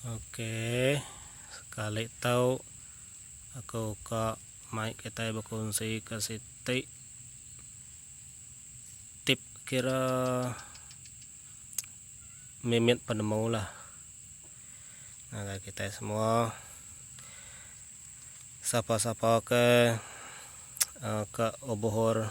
Okey, sekali tau aku ka mic kita berkongsi ke siti tip kira mimit penemu lah. Nah, kita semua sapa-sapa ke uh, ke obohor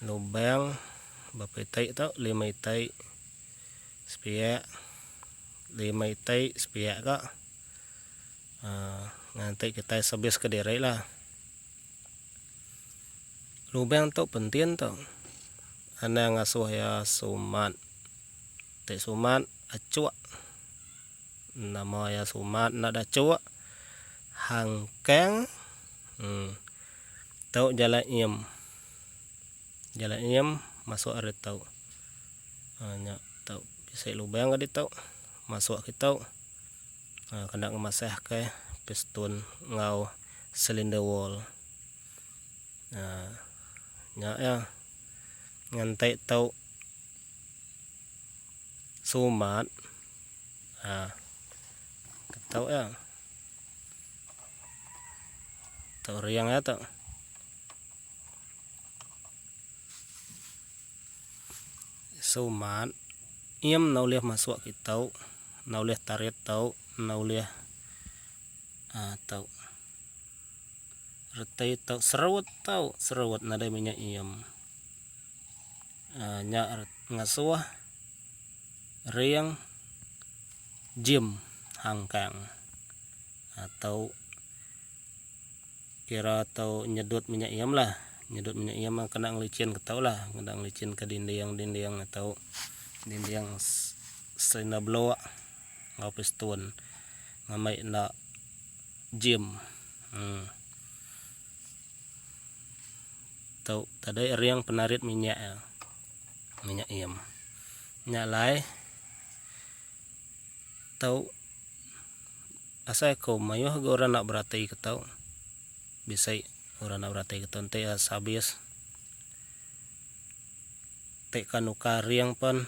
lubang berapa itai tu lima itai sepiak lima itai sepiak ka uh, nanti kita sebis ke diri lah lubang tu penting tu anang asuh ya sumat te sumat acuk nama ya sumat nak acuk hangkang hmm. Tau jalai eam. Jalai eam masuk ari tau. Ha, nya tau bisi lubang ari tau. Masuk ke tau. Ha, kena ngemasah ke piston enggau silinder wall. Ha, nya ya. Ngantai tau sumat. Ha, ke tau ya. Tu riang ya tu. Sumat iam na ulih masuk ke tau, na ulih tarit tau, na ulih uh, tau. Retai tau, serut tau, serut nadai minyak iam. Uh, nya ngasuh. Ring Jim Hang Kang atau kira atau nyedut minyak iem lah nyedut minyak iem kena ngelicin ketau lah kena ngelicin ke dinding dinding atau dinding serina blok enggau piston ngamai enda Jim um tau tadai ring penarit minyak. minyak iem nya alai tau asai ko mayuh ga orang nak beratai ke tau bisai orang nak beratai ke tau enti as habis ti ka nukar ring pen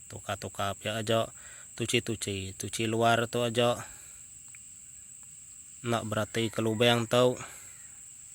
tukar tukar pia aja tuchi tuchi tuchi luar tu aja nak beratai ke lubang tau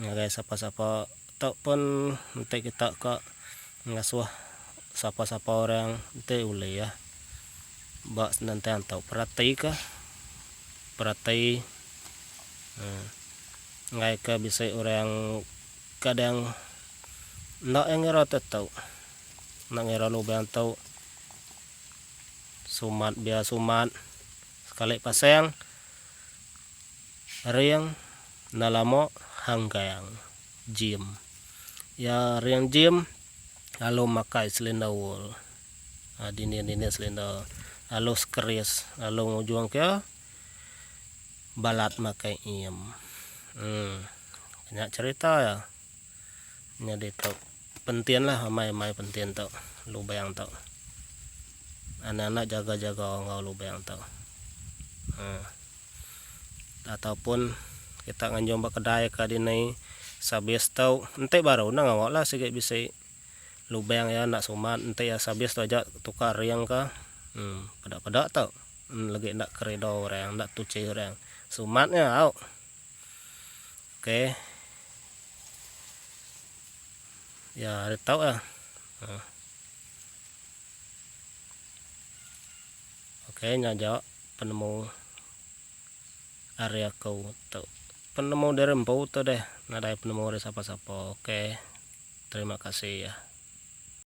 ngagai sapa-sapa ataupun enti kita ka ngasuh sapa-sapa orang enti ulih ba senentang tu peratika perati um ngagai ke bisi orang kadang enda iya ngira tetu enda ngira lubang tu sumat biar sumat sekali pasang. Ring enda lama hang gang Jim. Iya ring Jim lalu makai silinder wool, dinding-dinding silinder, lalu skeris lalu ngujung ke balat makai ngim. Um nya cerita iya. Nyadi tu pentinlah amai mai pentin tu lubang tu. Anak-anak jaga-jaga enggau lubang tu. Um. ataupun kita nganjung ba kedai ka dinai sabis tu enti baru enda ngawa lah sigi bisi lubang ya enda sumat enti ya sabis tu aja tukar ring ka um peda peda tu lagi enda keredo orang enda tuchi orang sumat nya au ok ya ari tu lah um ok nya aja. Penemu ari aku tu penemu diri empu tu deh nadai penemu ari sapa-sapa ok terima kasih ya.